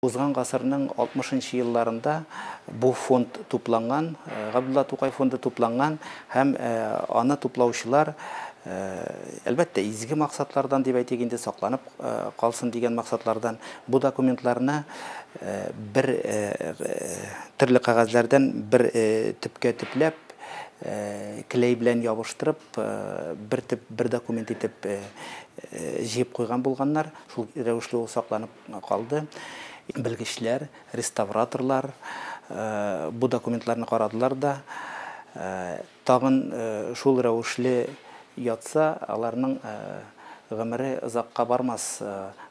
Узган гасырның 60 нчы елларында бу фонд тупланган, Габдулла Тукай фонды тупланган һәм аны туплаучылар, әлбәттә, изге максатлардан, дип әйтик инде, сакланып калсын дигән максатлардан, бу документларны бер төрле кәгазьләрдән бер төпкә төпләп, клей белән ябыштырып, бер төп, бер документ итеп җыеп куйган булганнар, шул рәвешле ул сакланып калды. Белгечләр, реставраторлар бу документларны карадылар да, тагын шул рәвешле ятса, аларның гомере озакка бармас,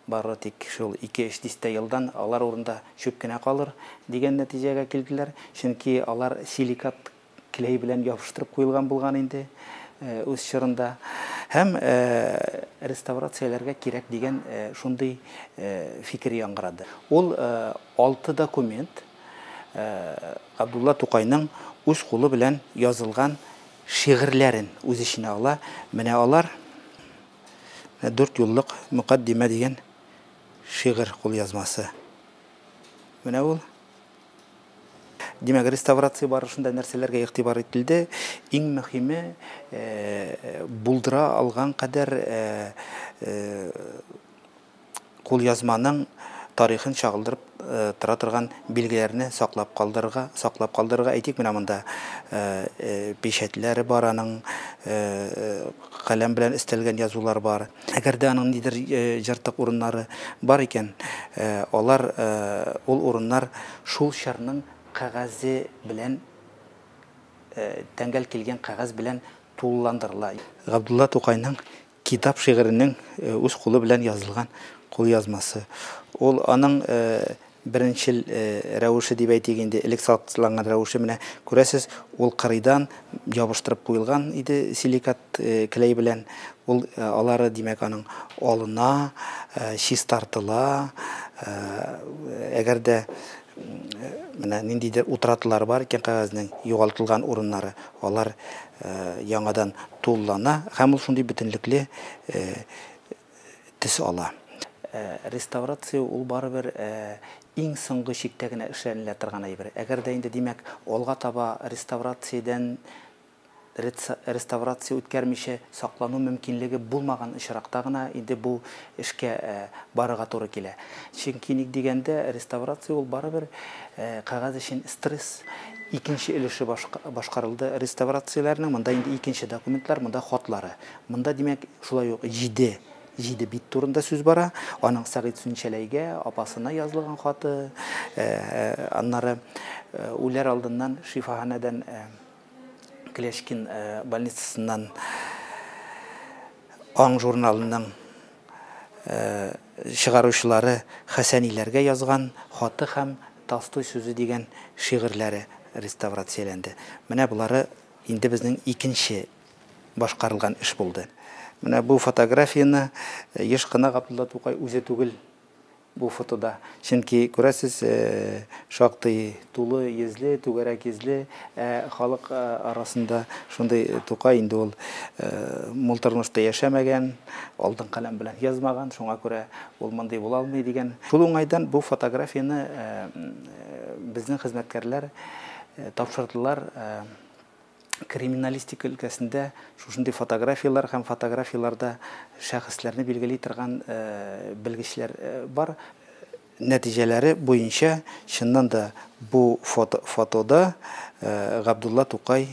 бары тик шул ике-өч дистә елдан алар урында чүп кенә калыр, дигән нәтиҗәгә килделәр. Чөнки алар силикат Клей белән ябыштырып куелган булган инде үз чорында. Һәм реставрацияләргә кирәк дигән шундый фикер яңгырады. Ул алты документ Габдулла Тукайның үз кулы белән язылган шигырьләрен үз эченә ала. Менә алар дүрт юллык мөкаддимә дигән шигырь кулъязмасы. Менә ул. Димәк, реставрация барышында нәрсәләргә игътибар ителде? Иң мөһиме, булдыра алган кадәр кулъязманың тарихын чагылдырып тора торган билгеләрне саклап калдырырга, саклап калдырырга. Әйтик, менә монда печатьләре бар аның, каләм белән өстәлгән язулар бар. Әгәр дә аның нидер җыртык урыннары бар икән, алар, ул урыннар шул чырның кәгазе белән, тәңгәл килгән кәгазь белән тулыландырыла. Габдулла Тукайның Китап шигыренең үз кулы белән язылган кулъязмасы. Ул аның беренчел рәвеше дип әйтик инде, элек салкытланган рәвеше, менә күрәсез, ул кырыйдан ябыштырып куелган иде силикат клей белән. Ул алары, димәк, аның алына, чистартыла. Әгәр дә менә ниндидер утратылар бар икән кәгазьнең, югалтылган урыннары, алар яңадан тулылана һәм ул шундый бөтенлекле төс ала. Реставрация ул барыбер иң соңгы чиктә генә эшләнелә торган әйбер. Әгәр дә инде, димәк, алга таба реставрациядән реставрация үткәрмичә саклану мөмкинлеге булмаган очракта гына инде бу эшкә барырга туры килә. Чөнки ник дигәндә, реставрация ул барыбер кәгазь өчен стресс. Икенче өлеше башкарылды реставрацияләрнең, монда инде икенче документлар, монда хатлары. Монда, димәк, шулай ук җиде, җиде бит турында сүз бара. Аның Сәгыйть Сүнчәләйгә, апасына язлыгын хаты, аннары үләр алдыннан шифаханәдән, Клячкин больницасыннан Аң журналының чыгаручылары Хәсәниләргә язган хаты һәм Толстой сүзе дигән шигырьләре реставрацияләнде. Менә болары инде безнең икенче башкарылган эш булды. Менә бу фотографияне еш кына Габдулла Тукай үзе түгел бу фотода. Чөнки, күрәсез, шактый тулы йөзле, түгәрәк йөзле, ә халык арасында шундый Тукай инде ул мул тормышта яшәмәгән, алтын каләм белән язмаган, шуңа күрә ул мондый була алмый дигән. Шул уңайдан бу фотографияне безнең хезмәткәрләр тапшырдылар Криминалистика өлкәсендә шушындый фотографияләр һәм фотографияләрдә шәхесләрне билгели торган белгечләр бар. Нәтиҗәләре буенча, чыннан да, бу фотода Габдулла Тукай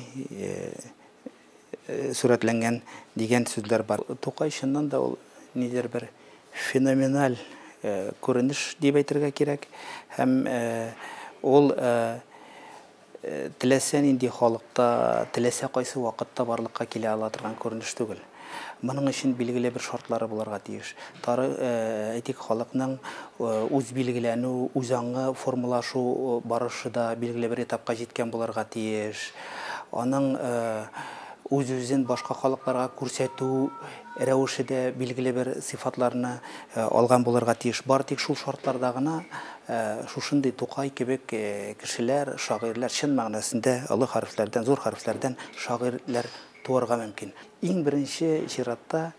сурәтләнгән дигән сүзләр бар. Тукай, чыннан да, ул нидер бер феноменаль күренеш дип әйтергә кирәк. Һәм ул Теләсә нинди халыкта теләсә кайсы вакытта барлыкка килә ала торган күренеш түгел. Моның өчен билгеле бер шартлары булырга тиеш. Тары, әйтик, халыкның үзбилгеләнү, үзаңы формалашу барышы да билгеле бер этапка җиткән булырга тиеш. Аның үз-үзен башка халыкларга күрсәтү рәвеше дә билгеле бер сыйфатларны алган булырга тиеш. Бары тик шул шартларда гына Ә шушындый Тукай кебек кешеләр, шагыйрьләр, чын мәгънәсендә олы хәрефләрдән, зур хәрефләрдән шагыйрьләр туарга мөмкин. Иң беренче чиратта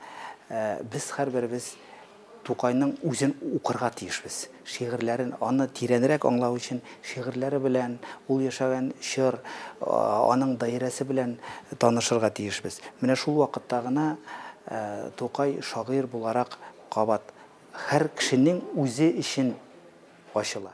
без һәрберебез Тукайның үзен укырга тиешбез, шигырьләрен, аны тирәнрәк аңлау өчен шигырьләре белән, ул яшәгән чор, аның даирәсе белән танышырга тиешбез. Менә шул вакытта гына Тукай шагыйрь буларак кабат Хәр кешенең үзе эчен ачыла.